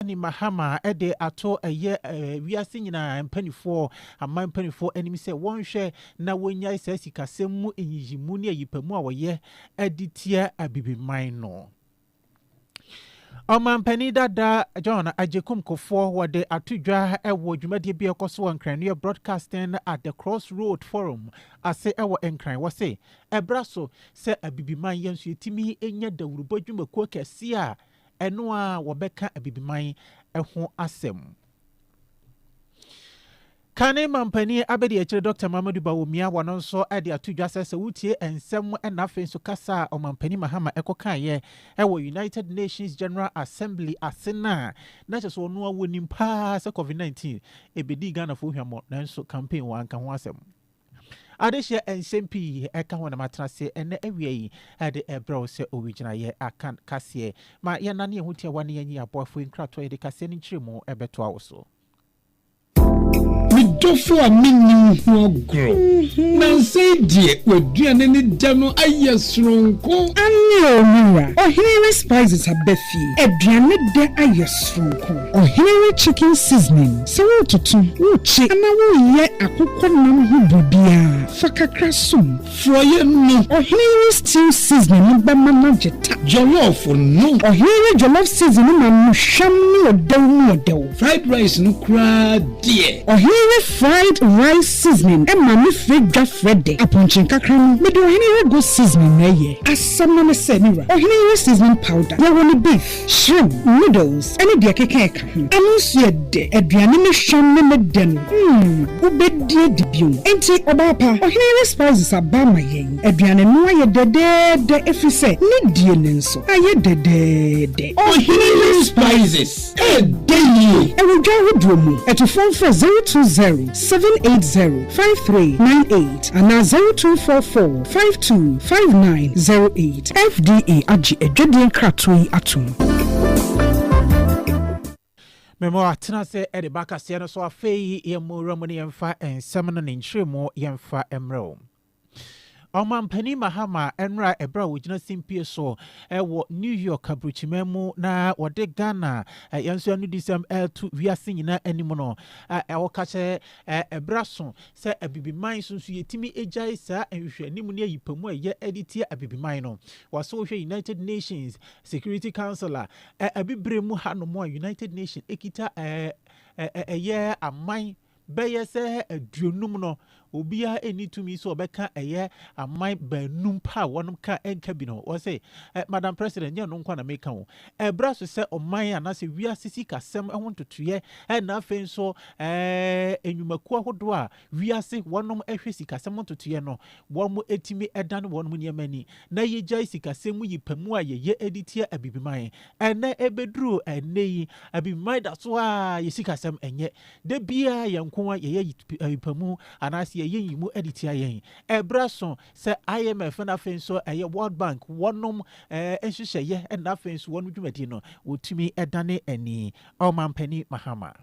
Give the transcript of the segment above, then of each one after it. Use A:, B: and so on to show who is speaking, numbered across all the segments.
A: Dramani Mahama de ato ɛyɛ wiase nyinaa mpaninfoɔ, aman mpaninfoɔ anim sɛ wɔnhwɛ na wɔnyae saa sikasɛm mu nyiyimu ne ayipamu a wɔyɛ de tia Abibiman no. Ɔmanpanin dada John Agyekum Kufour wɔde ato dwa wɔ dwumadie bi a ɛkɔ so wɔ Nkrannuo Broadcasting at the Cross Road Forum ase wɔ Nkran. Wɔse ɛbra so sɛ Abibiman yɛn nso yɛtumi nya dawurubɔ dwumakuo kɛseɛ a Ɛno ara wɔbɛka Abibiman ho asɛm. Kane mampanin abadiakyire Dɔkta Mamadou Bawumia wɔ no nso de ato dwa sɛ sɛ wotie nsɛm na afei nso kasa a Ɔmampanin Mahama kɔkaeɛ wɔ United Nations General Assembly ase no a, na kyerɛ sɛ ɔno ara wɔnim paa sɛ Covid-19 bɛdii Ghanafoɔ hwammɔ nanso campaign wanka ho asɛm. Adesua nsɛm pii ka ho na matena ase ɛnnɛ awia yi de rebrɛ wo sɛ owigyinaeɛ akan kaseɛ. Ma yɛnnane yɛn ho tiawa na yɛnyi aboafoɔ nkratoɔ a yɛde kaseɛ no nkyerɛmu bɛtoa wo so. Me
B: dɔfo a menni wo ho agorɔ. Nnansa yi deɛ w'aduane ne dɛ no ayɛ soronko. Aane o me
C: wura, ɔhene Respizes aba fie, aduane dɛ ayɛ soronko. Ɔhene wo chicken seasoning sɛ wototo, wokye anaa woyɛ akokɔ nam ho biribiara, fa kakra som. Frɔeɛ no.
B: Ɔhene wo stew
C: seasoning no bɛma no agye ta. Jollof no.
B: Ɔhene wo jollof
C: seasoning no ma no hwam ne ɔdɛw mu ɔdɛw. Fried rice no
B: koraa deɛ. Ɔhene wo fried
C: rice seasoning ma ne frɛ dwa frɛ dɛ. Apɔnkye nkakra no mede ɔhene wo goat seasoning na ɛyɛ. Asɛm no ne sɛ me wura, ɔhene wo seasoning powder, yɛwɔ no beef. Shrimp, noodles ne deɛ ɛkeka ɛka ho. Ano nso yɛ dɛ. Aduane ne hwam ne ne dɛ no, mm, wobɛdi adi bio. Enti, ɔbaa pa, ɔhene ne spices aba ama yɛn. Aduane no ayɛ dɛdɛɛdɛ ɛfiri sɛ ne die no nso ayɛ dɛdɛɛdɛ. Ɔhene ne
B: spices, ɛyɛ dɛ yie. Ɛwɔ dwa ahodoɔ
C: mu. Atufoɔ mfrɛ 020. seven eight zero five three nine eight anaa zero two four four five two five nine zero eight. FDA agye adwadie nkratoɔ yi atom.
A: Memo, Tena ase de ba kaseɛ no so. Afei yi yɛn mu wura mu na yɛmfa nsɛm no ne nkyerɛmu yɛmfa mmrɛ wo. Ɔmanpanin Mahama nnora ɛberɛ a ɔgyina simpie so wɔ New York aburokyiman mu na ɔde Ghana yɛn nso anudisɛm reto wiase nyinaa anim no, ɔka sɛ ɛberɛ aso sɛ Abibiman nso nso yɛtumi gyae saa nhwehwɛanim ne ayipamu a ɛyɛ de tia Abibiman no. Wɔso wohwɛ United Nations Security Council a, Abibire mu hanom a United Nations kita ɛyɛ aman bɛyɛ sɛ aduonum no, obiara nni tumi sɛ ɔbɛka ɛyɛ aman baanum pɛ a wɔnom ka nka bi no ho. Wɔse, eh, Madam President, nyɛ ɛno nko ara na meka ho. Ɛbra so sɛ ɔman anaasɛ wiase sikasɛm ho ntotoeɛ na afei nso eh, nnwumakuo ahodoɔ a wiase wɔnom hwɛ sikasɛm ho ntotoeɛ no, wɔn tumi dane wɔnom nneɛma ani na yɛgyae sikasɛm mu yi pɛ mu a yɛyɛ de tia Abibiman. Ɛnɛ ɛbɛduru ɛnnɛ yi, Abibiman da so a yɛ sikasɛm ɛnyɛ Da biara yɛn nko ara yɛyɛ ayipamu anaasɛ yɛyɛ nyimu de tia yɛn. Ɛberɛ aso sɛ IMF na afei nso ɛyɛ World Bank wɔnom nhyehyɛeɛ na afei nso wɔnom dwumadie no wɔtumi dane ani. Ɔmampanin Mahama.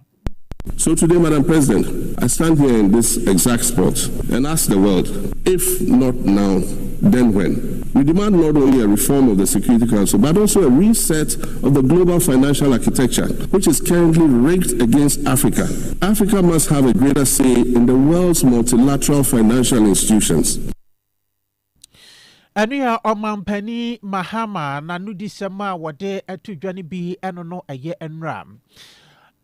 A: So
D: today Madam President, I stand here in this exact spot and ask the world, if not now then when? We demand not only a reform of the Security Council but also a reset of the global financial architecture. which is currently rigged against Africa, Africa must have a greater say in the world's multilateral financial institutions.
A: Ɛno yɛ Ɔmanpanin Mahama n'anodisɛm a wɔde to dwa no bi ɛno no ɛyɛ nnora.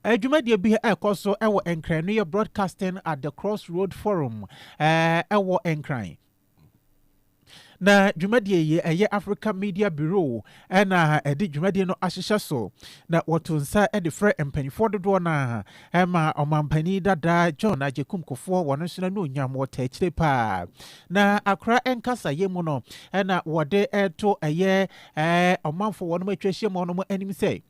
A: Dwumadie bi a ɛkɔ so wɔ Nkran no yɛ Broadcasting at the Crossroad Forum ɛwɔ Nkran. Na dwumadie yi ɛyɛ Africa Media Bureau na ɛde dwumadie no ahyehyɛ so na wɔto nsa de frɛ mpanimfoɔ dodoɔ no a ɛma ɔmampanin dada John Agyekum Kufuor wɔn nso n'anuonyam wɔta akyire paa na akora nkasayɛ mu no na wɔde to ɛyɛ ɔmanfoɔ wɔn atwa ahyia mu wɔn anim sɛ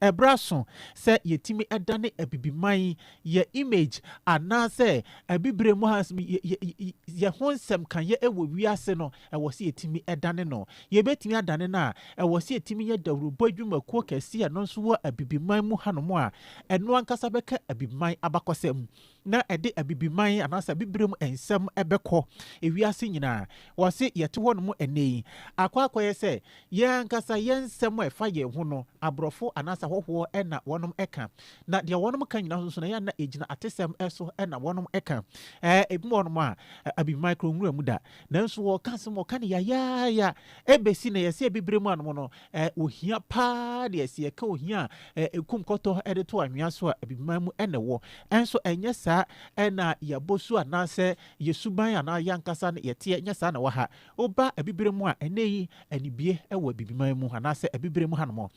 A: Ɛberɛ aso sɛ yɛtumi dane Abibiman, yɛ image anaasɛ Abibire mu ha nsɛm, yɛ, yɛ, yɛ, yɛ ho nsɛm ka yɛ wɔ wiase no, ɛwɔ sɛ yɛtumi dane no. Yɛbɛtumi adane no a, ɛwɔ sɛ yɛtumi yɛ dawurubɔ adwumakuo kɛseɛ a ɛno nso wɔ Abibiman mu hanom a, ɛno ankasa bɛka Abibiman abakɔsɛm. na ɛde Abibiman anaasɛ Abibirem nsɛm bɛkɔ wiase nyinaa. Wɔse yɛte hɔnom ɛnnɛ yi, akɔ akɔyɛ sɛ yɛn ankasa yɛn nsɛm a ɛfa yɛn ho no, aborɔfo anaasɛ ahɔhoɔ na wɔnom ka. Na deɛ wɔnom ka nyinaa nso no, ɛyɛ a na ɛgyina atesɛm so na wɔnom ka. Ebi wɔ hɔnom a, Abibiman kura nwura mu da, nanso wɔka asɛm, wɔka no yayaayaa, ɛbɛsi nnɛ, yɛse Abibirem anom no, Ɛ, ohia paa deɛ, sɛ yɛka ohia a, ɛ, ekum kɔtɔ de to anwea so a, abibiman mu na ɛwɔ. Ɛnso ɛnyɛ saa na yɛabɔ su anaasɛ yɛn suban anaa yɛn ankasa no yɛteɛ, ɛnyɛ saa na ɛwɔ ha. Woba abibire mu a, ɛnnɛ yi, anibue wɔ abibiman mu anaasɛ abibire mu hanom.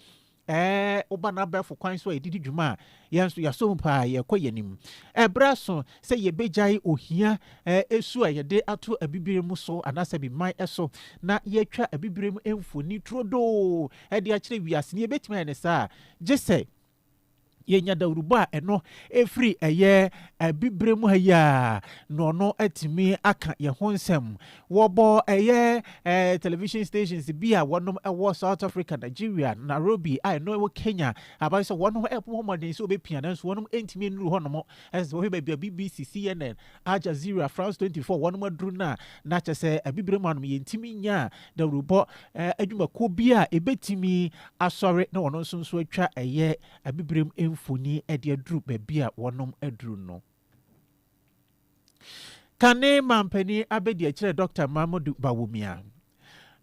A: Ɛ, woba n'abɛɛfo kwan so a yɛde di dwuma a, Yɛn nso, yɛasɔ mu paa, yɛrekɔ yɛn anim. Ɛberɛ aso sɛ yɛbɛgyae ohia su a yɛde ato abibirem so anaasɛ abiman so na yɛatwa abibirem mfoni turodoo de akyerɛ wiase no. Yɛbɛtumi ayɛ no saa a, gye sɛ yɛnya dawurubɔ a ɛno firi ɛyɛ abibirem ha yi a na ɔno atumi aka yɛn ho nsɛm. Wɔbɔ ɛyɛ television stations bi a wɔnom wɔ South Africa, Nigeria, Nairobi a ɛno wɔ Kenya, Aba no sɛ wɔn ho rebɔ mmɔden sɛ wɔbɛpia nanso wɔnom ntumi nnuru hɔnom. Ɛsɛ sɛ wɔhwɛ baabi a BBC, CNN, Al Jazeera, France 24 wɔnom aduru no a, na kyerɛ sɛ Abibirem anom yɛntumi nyaa dawurubɔ adwumakuo bi a ɛbɛtumi asɔre na wɔn nso nso atwa ɛyɛ Abibirem mfoni de aduru baabi a wɔnom aduru no. Kane manpanin abadiakyire Dɔkta Mamodu Bawumia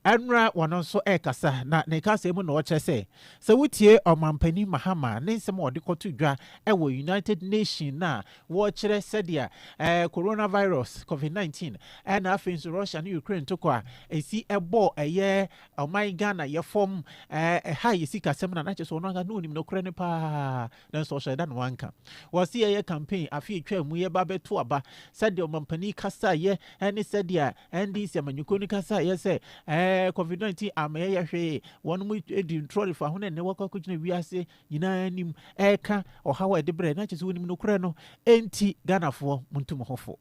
A: Anura ɔno nso rekasa na ne kaseɛ mu na ɔkyerɛ sɛ sɛ wotie Ɔmanpanin Mahama ne nsɛm a ɔde kɔto dwa wɔ United Nation no a wɔkyerɛ sɛdeɛ eh, coronavirus COVID-19 eh, na afei nso Russia ne Ukraine tokɔ a ɛsi ɛbɔ ɛyɛ ɔman Ghana yɛfam eh, ɛha yɛ sikasɛm na na kyerɛ sɛ ɔno ankasa na ɔnim nokorɛ no paa Nanso ɔhyɛɛ da na wanka. Wɔse yɛyɛ campaign afe a etwaa mu yi ɛba abɛto aba, sɛdeɛ ɔmampanin kasaeɛ ɛne sɛdeɛ NDC amanyɔkuo no kasaeɛ sɛ ɛɛ Covid 19 amma yɛyɛ hwee, wɔn mo di ntorɔ de fa ho na ɛnnɛ wɔakɔ akɔgyina wiase nyinaa anim ɛreka ɔhaw a ɛde brɛɛ na kyerɛ sɛ wɔnim nokorɛ no, enti Ghanafoɔ montu mo ho fo.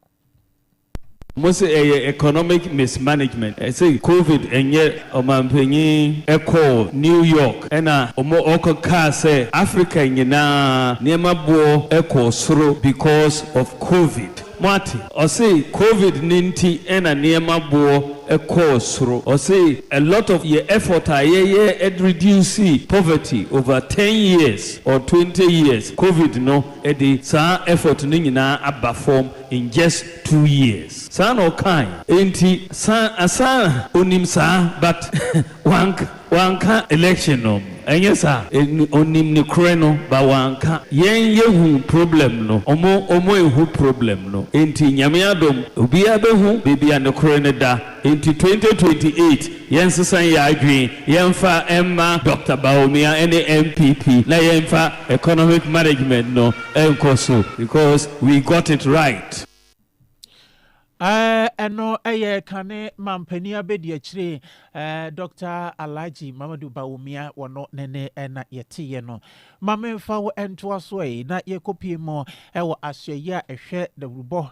E: Mo se ɛyɛ economic mismanagement. Ɛse covid nyɛ ɔmanpanyin ɛkɔɔ New York ɛna ɔmo ɔkɔ kaa sɛ Africa nyinaa nneɛma boɔ ɛkɔɔ soro because of covid. Mo ate? Ɔse covid no nti ɛna nneɛma boɔ ɛkɔɔ soro. Ɔse a lot of yɛ effort a yɛyɛ ɛde reduce poverty over ten years or twenty years covid no ɛde saa effort no nyinaa aba fɔm. in just two years saa na ɔkae. Enti san asan a onim saa but wank wanka election no ɛnyɛ saa ɛnu onim ne korɛ no but wanka yɛn yɛhu problem no ɔmo ɔmo ɛnhu problem no enti nyame adom obiaa bɛhu bebia ne korɛ no da. Enti 2028 yɛnsesa yɛn adwene, yɛmfa mma Dɔkta Bawumia ne NPP na yɛmfa economic management no nkɔ so because we got it right.
A: Ɛno yɛ kane Mampanin Abadiakyire Dɔkta Alhaji Mamadu Bawumia, wɔno ne ne na yɛteeɛ no. Ma memfa wo ntoa so ei na yɛkɔpue mu wɔ asoɛeɛ a ɛhwɛ dawurubɔ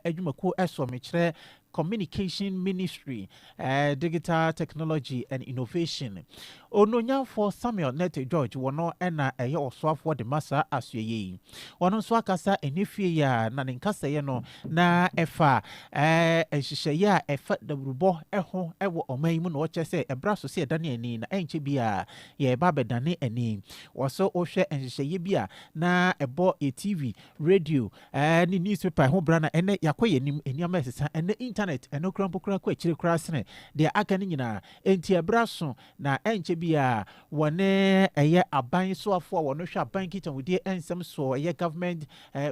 A: adwumakuo soɔ. Mekyerɛ Communication Ministry, Digital Technology and Innovation. Onuonyamfoɔ Samuel Nett George wɔno na ɛyɛ ɔsoafoɔ de ma saa asoɛyɛ yi. Ɔno nso akasa ɛnyɛ fie yi ara na ne nkasɛeɛ no na ɛfa nhyehyɛeɛ a ɛfa dawurubɔ ho wɔ ɔman yi mu na ɔkyerɛ sɛ ɛbra so sɛ yɛdane ani na ɛnkyɛ biara yɛreba abɛdane ani. Ɔso wohwɛ nhyehyɛeɛ bi a na ɛbɔ yɛ TV, radio Ɛɛ, ne newspaper ho bra na ɛnnɛ yɛakɔ yɛn anim, nneɛma resesa. Ɛnnɛ Intanɛt, ɛno koraa mpo koraa kɔ akyire koraa sene deɛ aka no nyinaa. Enti ɛberɛ aso, na ɛnkyɛ biara wɔne ɛyɛ aban soafoɔ a wɔhwɛ aban nkitahudie nsɛm soɔ, ɛyɛ Government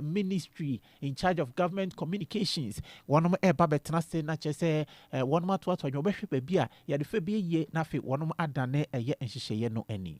A: Ministry in charge of Government Communications, wɔn reba abɛtena ase na kyerɛ sɛ wɔn atoatoa adwene, wɔbɛhwɛ baabi a yɛde fa bi ayie na afei wɔn adane ɛyɛ nhyehyɛeɛ no ani.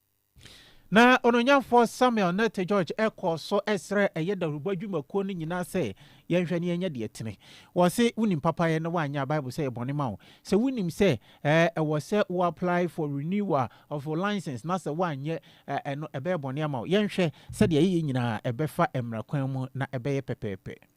A: Na Onuonyamfoɔ Samuel ne Te George kɔɔ so srɛɛ ɛyɛ dawurubɔ adwumakuo no nyinaa sɛ, Yɛnhwɛ na yɛnyɛ deɛ ɛtene. Wɔse wonim papayɛ na woanyɛ a, Bible sɛ ɛyɛ bɔne ma wo. Sɛ wonim sɛ ɛwɔ sɛ wo apply for renewal of wo license na sɛ woanyɛ a, ɛno ɛbɛyɛ bɔne ama wo. Yɛnhwɛ sɛdeɛ yɛyɛ nyinaa ɛbɛfa mmara kwan mu na ɛbɛyɛ pɛpɛɛpɛ.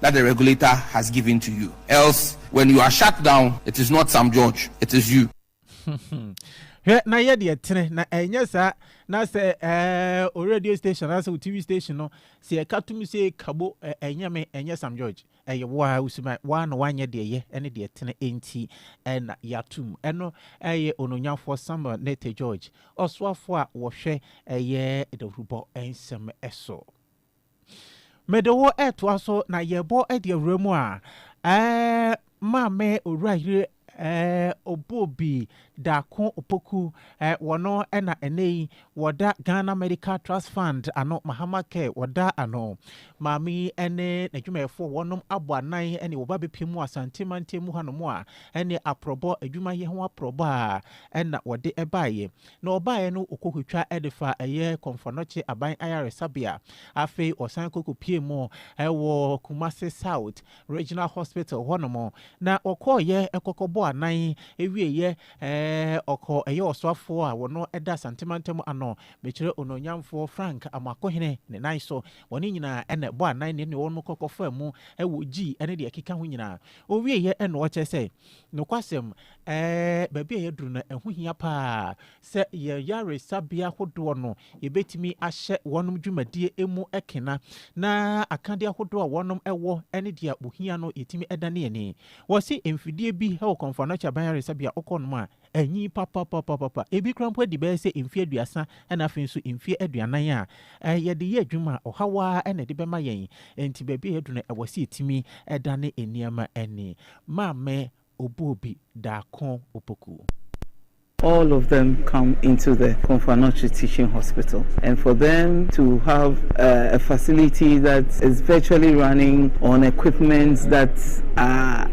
F: that the regulator has given to you else when you are shut down it is not Sam George it is you.
A: hwɛ na yɛ deɛ tene na ɛnyɛ saa na sɛ ɛɛ o radio station anaasɛ o tv station no sɛ ɛka tum sɛ kabo ɛnyɛ me ɛnyɛ sam george ɛyɛ woa wosuman woa na woanyɛ deɛ yɛ ɛne deɛ tene ɛnti ɛna yɛatum ɛno ɛyɛ ononyafoɔ samuel nete george ɔsoafoɔ a wɔhwɛ ɛyɛ dawurubɔ nsɛm ɛso Mede wo ɛtoa so na yɛbɔ ɛde awura mu a ɛɛ maame owura yere ɛɛ Obobi Darko Opoku ɛɛ wɔn ɛna ɛnɛ yi wɔda Ghana Medical Trust Fund ano Mahama Care wɔda ano. Maame yi ɛne n'adwumayɛfoɔ wɔnom abɔ anan ɛne wɔba bɛpie mu Asante mantam mu hanom a ɛne aprɔbɔ adwuma yɛ ho aprɔbɔ a ɛna wɔde ɛbaeɛ. Na ɔbaeɛ no ɔkɔkɔtwa de faa ɛyɛ Komfo-Anokye Aban Ayaresabea. Afei ɔsan kɔkɔpuee mu wɔ Kumasi South Regional Hospital hɔ nom. Na ɔkɔeɛ kɔkɔbɔɔ anan, wieeɛ ɔkɔɔ ɛyɛ ɔsoafoɔ a ɔno da Asante mantam ano, mekyerɛ Onuonyamfoɔ Frank Amoakohene ne nan so. Wɔn nyinaa na ɛbɔɔ anan ne ne wɔn kɔkɔfaa mu wɔ gyii ne deɛ ɛkeka ho nyinaa. Ɔwieeɛ na ɔkyerɛ sɛ Nokwasɛm, Ɛɛ, baabi a yɛaduru no, ɛho hia paa sɛ yɛn yaresabea hodoɔ no, yɛbɛtumi ahyɛ wɔnom dwumadie mu kena, na akadeɛ ahodoɔ a wɔnom wɔ ne deɛ wɔhia no, yɛtumi da ne yɛn ani. Wɔse mfidie bi wɔ Kɔmfoanoakye Aban Yaresabea, wokɔ nom a, Anyin papapapapa. Ebi koraa mpo adi bɛyɛ sɛ mfe aduasa na afei nso mfe aduanan a yɛde yɛ adwuma a, ɔhaw ara na ɛde bɛma yɛn. Enti baabi a yɛadu no, ɛwɔ sɛ yetumi dane nneɛma ani. Maame obuo bi, Daako Opoku. All
G: of them come into the Komfo-Anokye Teaching Hospital and for them to have a facility that is virtually running on equipments that are.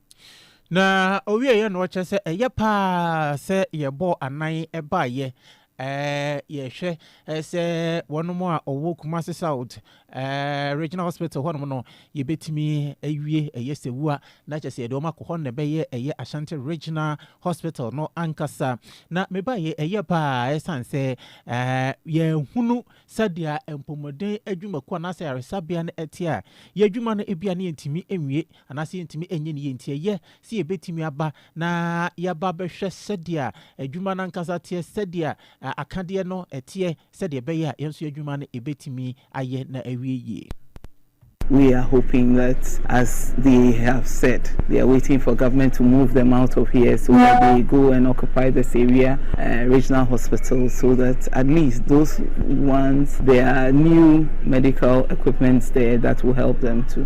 A: Na ɔwieeɛ na ɔkyerɛ sɛ ɛyɛ paa sɛ yɛbɔɔ anan baeɛ yɛhwɛ sɛ wɔn a ɔwɔ Kumasi South Regional Hospital hɔnom no yɛbɛtumi awie ɛyɛ sɛ wua na kyɛ sɛ yɛde wɔn akɔ hɔ na ɛbɛyɛ ɛyɛ Ashanti Regional Hospital no ankasa na mebaeɛ ɛyɛ paa ɛsan sɛ yɛhunu sɛdeɛ mpɔmuden adwumakuo anaasɛ aresabea no ɛte a yɛadwuma no ebia ne yɛntumi nwie Anaasɛ yɛntumi nyɛ no yie nti, ɛyɛ sɛ yɛbɛtumi aba na yɛaba bɛhwɛ sɛdeɛ adwuma no ankasa teɛ, sɛdeɛ akadeɛ no teɛ, sɛdeɛ ɛbɛyɛ a yɛn nso yɛn adwuma no yɛbɛtumi ayɛ na awie yie. We
G: are hoping that as they have said they are waiting for government to move them out of here so that they go and occupy this area uh, regional hospital so that at least those ones there are new medical equipments there that will help them too.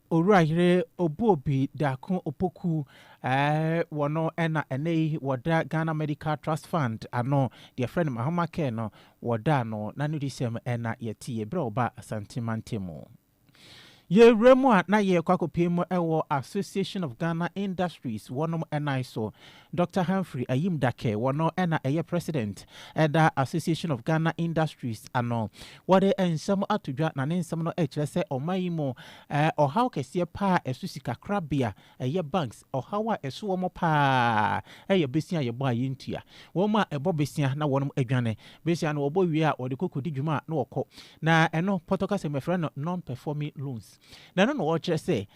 A: Owura yere obuo bi Daako Opoku eh, wɔ no na ɛnɛ yi wɔda Ghana Medical Trust Fund ano, deɛ yɛfrɛ no Mahama Care no, wɔdaa no n'anodisɛm na yɛtiee berɛ a ɔbaa Asante mantam mu. Yɛrewura mu a na yɛrekɔ akɔpie mu wɔ Association of Ghana Industries wɔnom nan so Dɔkta Humphrey Ayim Dackeh wɔ no na ɛyɛ President ɛda Association of Ghana Industries ano. Wɔde nsɛm ato dwa na ne nsɛm no ɛkyerɛ sɛ ɔman yi mu ɔhaw kɛseɛ paa ɛso sika korabea ɛyɛ banks ɔhaw a ɛso wɔn paa ɛyɛ besia a yɛbɔ a yɛntua. Wɔn a ɛbɔ besia na wɔnom adwane besia no wɔbɔ wie a wɔde kɔ kɔdi dwuma a na wɔkɔ na ɛno pɔtɔkasa mu yɛfrɛ no non-performing loans. Na ɛno na ɔrekyerɛ sɛ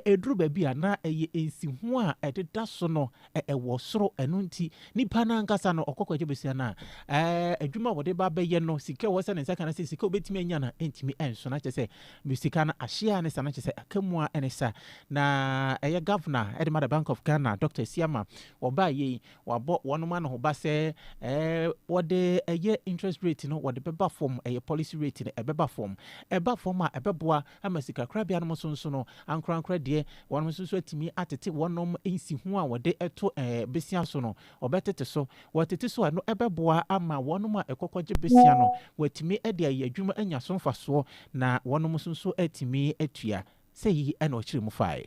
A: ɛduru baabi a na ɛyɛ nsiho a ɛdeda so no wɔ soro. Ɛno nti, nipa no ankasa no ɔkɔ kɔgye bosea no a, adwuma a wɔde ba abɛyɛ no, sika a wɔsɛ ne nsa ka no sɛ sika a obetumi anya no ntumi nso. Na kyerɛ sɛ me sika no ahye a ne sa, na kyerɛ sɛ aka mu a ne sa. Na ɛyɛ governor de ma the Bank of Ghana, Dr. Asiamah, ɔbaeɛ yi, Wabɔ wɔnom anohoba sɛ ɛɛ wɔde ɛyɛ interest rate no wɔde bɛba fam, ɛyɛ policy rate no ɛbɛba fam. Ɛba fam a ɛbɛboa ama sikakorabea nom nso nso no ankorankora deɛ wɔnom nso nso atumi atete wɔnom nsiho a wɔde to ɛɛ besia so no wɔbɛtete so. Wɔtete so a ɛno ɛbɛboa ama wɔnom a ɛkɔkɔgye besia no wɔatumi de ayɛ adwuma anya so mfasoɔ na wɔnom nso nso atumi atua. Sɛyi na ɔkyerɛ mu faeɛ.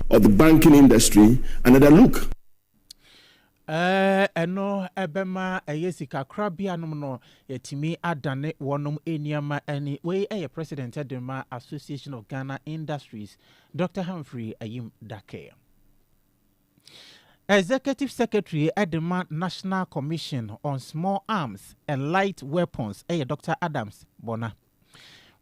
D: of the banking industry another look.
A: Ɛno bɛma ɛyɛ sikakorabea nom no yɛatumi adane wɔnom nneɛma ani. Wei yɛ President de ma Association of Ghana Industries, Dr. Humphrey Ayim Dake. Executive Secretary de ma National Commission on Small Arms and Light Weapons yɛ Dr. Adams Bona.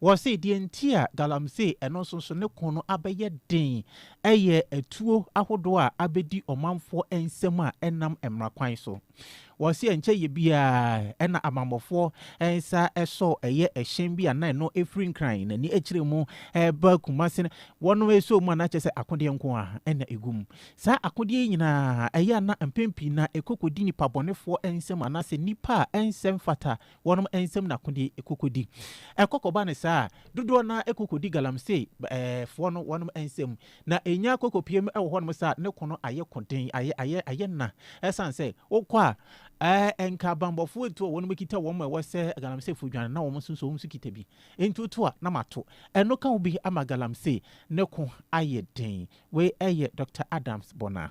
A: Wɔse deɛ nti a galamsey, ɛno nso so ne ko no abɛyɛ den yɛ atuo ahodoɔ a abɛdi ɔmanfoɔ nsam a ɛnam mmara kwan so. Wɔse ɛnkyɛ yɛ biara na abammɔfoɔ nsa sɔɔ ɛyɛ ɛhyɛn bi a na ɛno firi Nkran n'ani akyire mu reba Kumase no, wɔnom sɔɔ mu a na kyerɛ sɛ akodeɛ nko ara na ɛgu mu. Saa akodeɛ yi nyinaa, ɛyɛ a na mpɛn pii no ɛkɔ kɔdi nnipa bɔnefoɔ nsam anaasɛ nnipa a ɛnsɛ mfata Wɔnom nsam na akodeɛ kɔkɔdi. Ɛkɔ kɔba no saa a, dodoɔ no ara kɔkɔdi galamsey foɔ no wɔnom nsam. Na ɛnya kɔkɔpiem wɔ hɔnom saa a, ne ko no ayɛ ko den, ayɛ, ayɛ, ayɛ na. Ɛsiane sɛ, wokɔ a, ɛɛ, nka abanbɔfoɔ etuo a wɔnom kita wɔn a ɛwɔ sɛ galamseyfoɔ dwane na wɔn nso nso wɔn nso kita bi. Enti woto a, na mato. Ɛno ka ho bi ama galamsey ne ko ayɛ den. Wei yɛ Doctor Adams Bonner.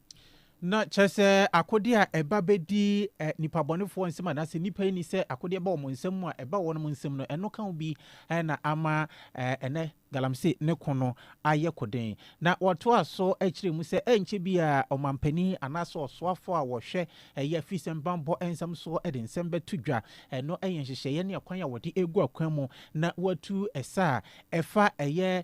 H: Na
A: kyerɛ sɛ akodeɛ a ɛba bɛdi eh, nipabɔnefoɔ nsam anaasɛ nnipa yi ni sɛ akodeɛ ba wɔn nsam mu a ɛba wɔnom nsam no, ɛno ka wo bi eh, na ama eh, ɛnɛ galamse ne ko no ayɛ koden. Na wɔtoa so kyerɛ mu sɛ ɛnkyɛ bi a ɔmampanin anaasɛ ɔsoafoɔ a wɔhwɛ ɛyɛ afisɛm banbɔ nsɛm soɔ de nsɛm bɛto dwa. Ɛno yɛ nhyehyɛeɛ ne ɛkwan a wɔde gu akwan mu na wɔatu ɛsa a ɛfa ɛyɛ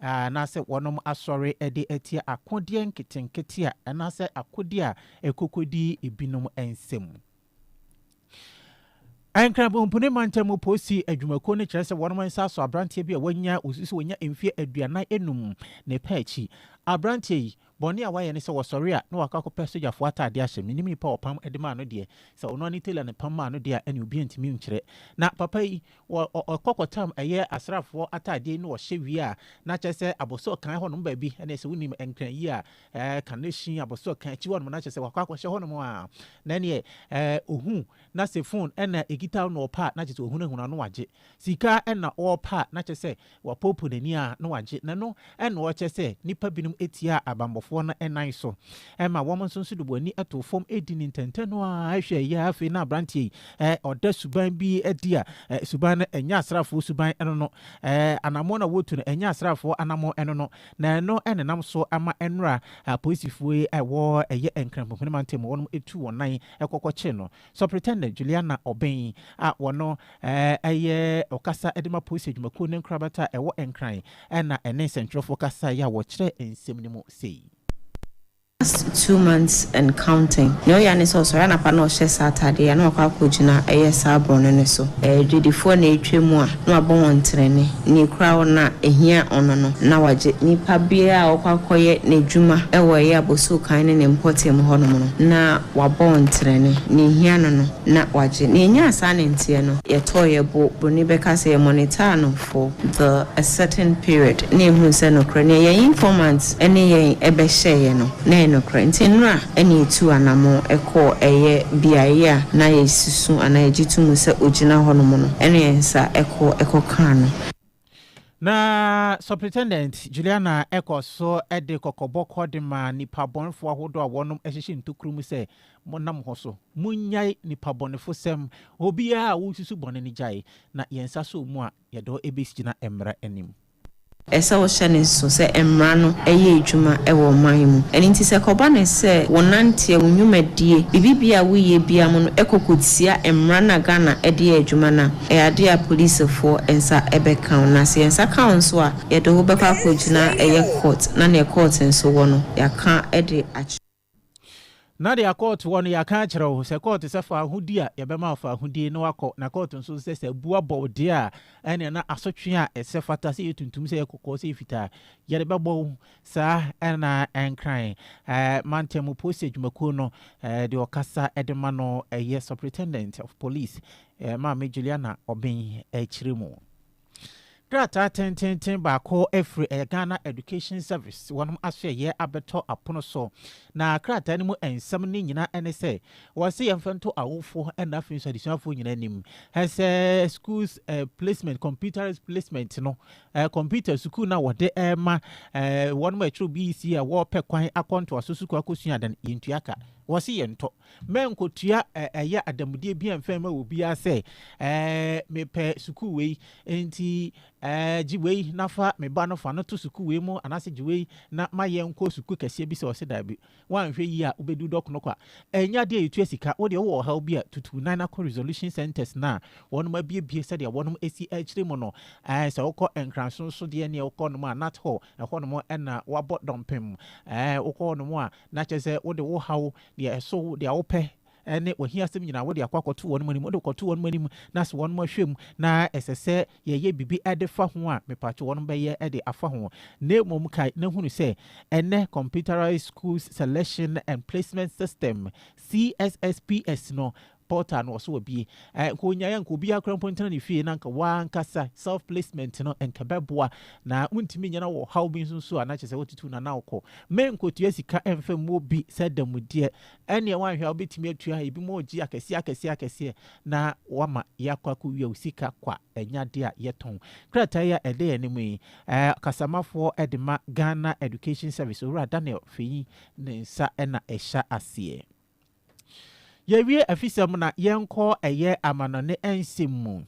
A: Anaasɛ wɔnom asɔre de atia akodeɛ nketenkete a anaasɛ akodeɛ a ɛkokodi ebinom nsam. Nkramompuni Mantamu Posi Adwumakuo no kyerɛ sɛ wɔnom nsa asɔ abranteɛ bi a wanya, wɔsi sɛ wanya mfeɛ aduanan enum, ne pɛ akyi. Abranteɛ yi, Bɔne a wayɛ ne sɛ wɔsɔre a na wakɔ akɔpɛ sogyafoɔ ataadeɛ ahyɛ, mennim nipa a ɔpam de maa no deɛ, sɛ ɔno ara ne tailor na ɛpam maa no deɛ a ɛne obiara ntumi nkyerɛ. Na papa yi, wɔ ɔ ɔkɔ kɔtam ɛyɛ asraafoɔ ataadeɛ yi na ɔhyɛ wie a, na kyerɛ sɛ abosor kan hɔnom baabi ɛneɛ sɛ wonim Nkran yi a, ɛɛ Kaneshie abosor kan akyi hɔnom na kyerɛ sɛ wakɔ akɔhyɛ hɔnom a, na ɛneɛ ɛɛ ɔhu na sɛ phone ɛna ɛkita wo na ɔpɛ a na kyerɛ sɛ wahunahuna no wagye, sika ɛna ɔɔpɛ a na kyerɛ sɛ Wapoopoo n'ani a na wagye na ɛno na ɔrekyerɛ sɛ nnipa binom tiaa abammɔfoɔ no nan so ma wɔn nso nso de wɔn ani too fam di ne ntɛntɛ no ara hwɛ yɛ afei na aberanteɛ yi ɔda suban bi adi a suban no ɛnyɛ asraafoɔ suban ɛno no anammɔn a wɔtu no ɛnyɛ asraafoɔ anammɔn ɛno no na ɛno nenam so ama ɛnora apolisifoɔ yi ɛwɔ ɛyɛ nkranpohene mantam wɔnom ɛtu wɔn nan ɛkɔkɔkye no Sɔpretɛndan Juliana Obeng a ɔno yɛ ɔkasa de ma Polisi Adwumakuo no nkorabata a ɛwɔ Nkran na ɛne nsɛntwerɛfoɔ kasaeɛ a wɔkyerɛɛ nsɛm no mu sei. Last
I: two months and counting. Nea ɔyɛ ara ne sɛ ɔsɔre anapa na ɔhyɛ saa ataadeɛ yi a na wakɔ akɔgyina ɛyɛ saa borɔno no so. Adwadifoɔ na atwa mu a. na wabɔ wɔn trenee, nea ekura wɔn no a, ehia ɔno no, na wagye. Nipa biara a ɔkɔ akɔyɛ n'adwuma wɔ ɛyɛ abɔso kan ne ne mpɔtam mu hɔnom no, na wabɔ wɔn trenee, nea ehia no no, na wagye. Na enyaa saa nanteɛ no, yɛtɔɔ yɛn bo, Broni bɛka sɛ, yɛmɔnitaa no for the a certain period, na yɛhuu sɛ nokorɛ, nea yɛn informants ne yɛn bɛhyɛeɛ no, na ɛyɛ nokorɛ. Nti nnora na yɛtuu anamɔn kɔɔ ɛyɛ beaeɛ a na yɛasi so. so anaa egye to mu sɛ ogyina hɔnom no, ɛnna yɛn nsa kɔ kɔkaa no. Na
A: Superintendent Juliana kɔɔ so de kɔkɔbɔ kɔ de maa nnipabɔnefo ahodoɔ a wɔnom ahyehye ntokuro mu sɛ, Monna mo ho so. Monnyae nnipabɔnefosɛm. Obiara a wosusu bɔne no gyae, na yɛn nsa sɔɔ mu a, yɛde wo bɛgyina mmara anim. Ɛsɛ wohyɛ
I: no nsow sɛ mmara no yɛ adwuma wɔ ɔman mu. Ɛno nti sɛ ɛkɔba no sɛ wo nanteɛ, wo nnwumadie, biribibiara a woyɛ biara mu no kɔ kɔtia mmara no a Ghana de yɛ adwuma no a, ɛyɛ adeɛ a policefoɔ nsa bɛka wo. Na sɛ yɛn nsa ka wo nso a, yɛde wo bɛkɔ akɔgyina ɛyɛ court na neɛ court nso wɔ no, yɛaka de akyerɛ. Na
A: deɛ kɔɔto wɔ no yɛaka akyerɛ wo sɛ kɔɔto sɛ fa ahodi a yɛbɛma wo fa ahodie na wakɔ na kɔɔto nso sɛ sɛ abu abɔ wo deɛ a ɛneɛ na asotwe a ɛsɛ fata sɛ yɛ tuntum sɛ yɛ kɔkɔɔ sɛ yɛ fitaa yɛde bɛbɔ wo saa ɛna ɛnkran ɛɛ mantam mu polisi adwumakuo no ɛɛ deɛ ɔkasa ɛde ma no ɛyɛ superintendent of police ɛɛ maame Juliana Ɔben akyire mu. Krataa tenteenten baako afiri ɛyɛ Ghana Education Service wɔn asoɛyɛ abɛtɔ apono so. Na krataa no mu nsɛm no nyina ne sɛ wɔse yɛmfa nto awofoɔ ɛna afei nso adesuafoɔ nyina anim sɛ schools eh, placement, computerized placement no eh, computer sukuu no a wɔde ɛma eh, wɔn ma ɛkyerɛ BEC a wɔpɛ kwan akɔ ntoaso sukuu akɔsua adan yɛntua ka wɔse yɛntɔ Mɛnkotua ɛ ɛyɛ adanmudeɛ bia mfa mma obiara sɛ ɛ mepɛ sukuu wei nti ɛ gye wei na fa me ba no fa no to sukuu wei mu anaasɛ gye wei na ma yɛn kɔ sukuu kɛseɛ bi sɛ ɔse daabi woanhwɛ yie a wobɛdu dɔkono kwa ɛnyɛ adeɛ a yɛtua sika wodeɛ wowɔ ɔhaw bi a tutu nan na kɔ resolution centers no a wɔnom abiebie sɛdeɛ wɔnom asi akyire mu no ɛ sɛ wokɔ nkranso nso deɛ neɛ wokɔ nom a nat hɔ ɛhɔ nom ɛna wabɔ dɔmpem ɛ wokɔ hɔ nom a na kyɛ sɛ wode wo haw deɛ ɛso wo, deɛ wopɛ, ne w'ahiasɛm nyinaa, wode akɔ akɔto wɔn anim, wode kɔto wɔn anim, na sɛ wɔn ahwɛ mu, na ɛsɛ sɛ yɛyɛ biribi de fa ho a, mepatwo wɔn bɛyɛ de afa ho. Na mmom kae na hunu sɛ, ɛnnɛ Computerized Schools Selection and Placement System, CSSPS, no, Portal no wɔso wɔbie eh nka onyae a nka obiara kora mpo ntena ne fie na nka wankasa self placement no nka ɛbɛboa na wontumi nyɛ na wɔ ɔhaw bi nso nso a na kyerɛ sɛ wotutu na na wokɔ me nkotua sika ɛmfa mmuo bi sɛ adamudeɛ ɛneɛ wanhwɛ a wobɛtumi atua ebi mu ɔgye akɛseɛ akɛseɛ akɛseɛ na wama yɛakɔ akɔwia wo sika kwa ɛnya adeɛ a yɛtɔn krataa yi a ɛda yɛn anim yi eh, kasamafoɔ de ma Ghana Education Service owura Daniel Feyi ne nsa ɛna ɛhyɛ aseɛ. Yɛwie afisɛm na yɛnkɔ ɛyɛ amanɔne nsɛm mu.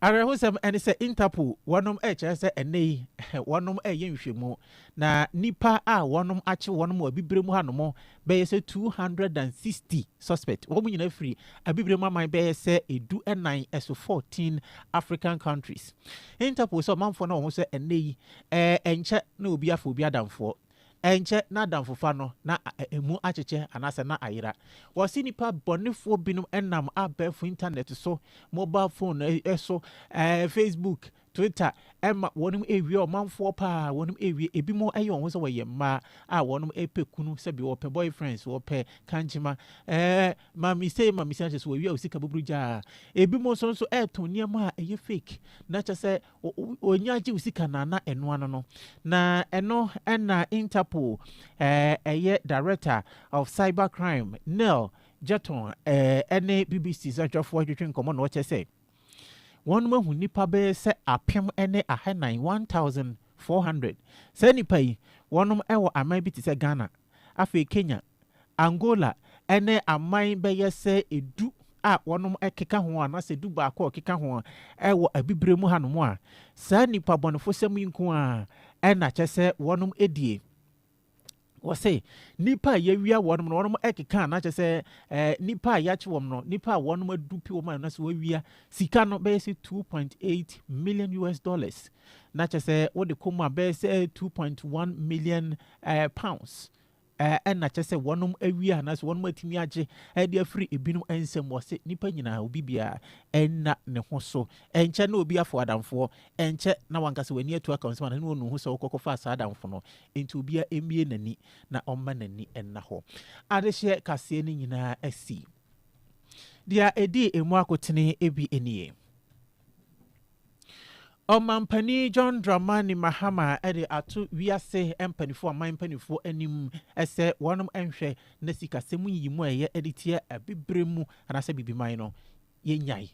A: Awerɛhosɛm ne sɛ Interpol wɔnom rekyerɛ sɛ ɛnnɛ yi wɔnom reyɛ nhwɛmu na nnipa a wɔnom akye wɔnom wɔ Abibirem hanom bɛyɛ sɛ 260 suspect. Wɔn nyinaa firi Abibirem aman bɛyɛ sɛ edu nnan ɛso 14 African countries. Interpol sɛ ɔmanfoɔ no wɔn ho sɛ ɛnnɛ yi ɛnkyɛ na obi afa obi adamfoɔ. ɛnkyɛ n'adamfofa no na emu akyekyɛ anaasɛ na ayera. Wɔse nnipa bɔnefoɔ binom nam abɛɛfo intanɛt so, mobile phone so, Facebook, Twitter, ma wɔnom ɛrewie ɔmanfoɔ paa, wɔnom ɛrewie, ebinom ɛyɛ wɔn ho sɛ wɔyɛ mmaa a wɔnom ɛpɛ kunu, sɛbi wɔpɛ boyfriends, wɔpɛ kankyema, ɛɛ mami sei mami sei, akyɛ sɛ wɔwie a wɔsika buburu gyaa. Ebinom nso nso ɛɛtɔn nneɛma a ɛyɛ fake, na kyɛ sɛ Onya gye wo sika no a na ɛno ano no. Na ɛno na Interpol ɛyɛ Director of Cyber Crime Nell Jeton ɛne BBC Sɛnhwɛfoɔ retwetwe nkɔmmɔ na ɔkyerɛ sɛ wɔn ahu nnipa bɛyɛ sɛ apem ne ahanan 1400. Saa nnipa yi wɔn ɛwɔ aman bi te sɛ Ghana, afei Kenya, Angola ne aman bɛyɛ sɛ du a wɔkeka ho anaasɛ du baako a wɔkeka ho wɔ Abibirem mu hanom a, saa nnipa bɔnefosɛm yi nko ara na kyɛ sɛ wɔdie. Wɔse, nnipa a yɛawia wɔnom no, wɔnom keka na kyɛ sɛ nnipa a yɛakye wɔm no, nnipa a wɔnom adu pi wɔm a na sɛ wɔawia sika no bɛyɛ sɛ 2.8 million US dollars na kyɛ sɛ wode kɔ mu a bɛyɛ sɛ 2.1 million pounds Ɛnna kyerɛ sɛ wɔnom awie anaasɛ wɔnom atumi agye de afiri ebinom nsam. Wɔse nnipa nyinaa, obi biara nna ne ho so. Ɛnkyɛ na obi afow adamfoɔ. Ɛnkyɛ na wanka sɛ w'ani atu aka wo nsam anaasɛ na ɔnnu ho sɛ wokɔkɔfaa saa adamfo no. Enti obiara mmue n'ani na ɔmma n'ani nna hɔ. Adehyeɛ kaseɛ no nyinaa asi. Deɛ ɛdii emu akotene bi nie. Ɔmampanin John Dramani Mahama de ato wiase mpaninfoɔ, aman mpaninfoɔ anim sɛ wɔn nhwɛ na sikasɛm nyiyimu a ɛyɛ de tia abibire mu anaasɛ abibiman no yɛnyae.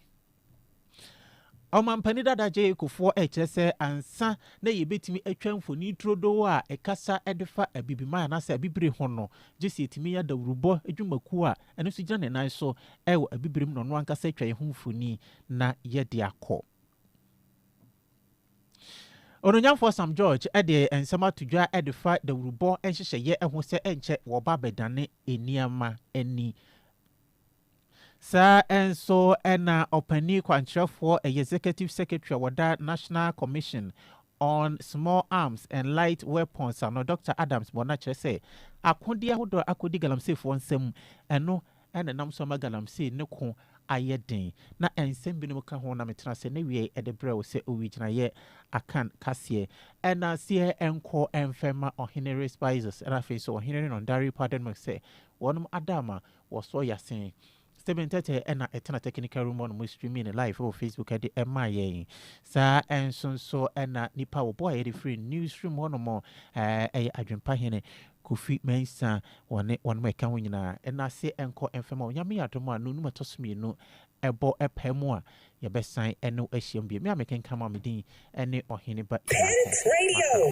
A: Ɔmampanin dada Jay Kufuor rekyerɛ sɛ ansa na yɛbɛtumi atwa mfoni turodoo a ɛkasa de fa Abibiman anaasɛ Abibire ho no, gye sɛ yɛtumi nya dawurubɔ adwumakuo a ɛno nso gyina ne nan so wɔ Abibirem na ɔno ankasa atwa yɛn ho mfoni na yɛde akɔ. Ononyamfoɔ Sam George de nsɛm ato dwa de fa dawurubɔ nhyehyɛeɛ ho sɛ ɛnkyɛ wɔba bɛdane nneɛma ani. Saa nso na ɔpanyin kwankyerɛfoɔ, ɛyɛ Executive Secretary a wɔda National Commission on Small Arms and Light Weapons ano, Dɔkta Adams bɔ no akyerɛ sɛ, akodeɛ ahodoɔ a akɔdi galamseyfoɔ nsam, ɛno na ɛnam so ama galamsey no ko ayɛ den. Na nsɛm binom ka ho na metena ase na wiɛe de brɛ wo sɛ owigyinaeɛ Akan kaseɛ. Ɛna aseɛ nkɔ mfɛmma Ɔhene Respizes, ɛna afei nso Ɔhene Nondari Padonmuk sɛ wɔnom ada ama Wɔsɔ Yase. Stephen Tetteh na ɛtena technical room hɔ nom streaming no live wɔ Facebook de maa yɛn. Saa nso nso na nipa a wɔboa yɛde firi newsroom hɔ nom yɛ Adwempa Hene Kofi Mensah wɔne wɔnom a ɛka ho nyinaa. Nnase nkɔ mfa ma wo. Nyame yɛ adom a nonum a ɛtɔ so mmienu bɔ paa mu a yɛbɛsan ne wo ahyiam bio. Me a mekenkan ma wo me din ne Ɔhene Ba Isakor Masaw.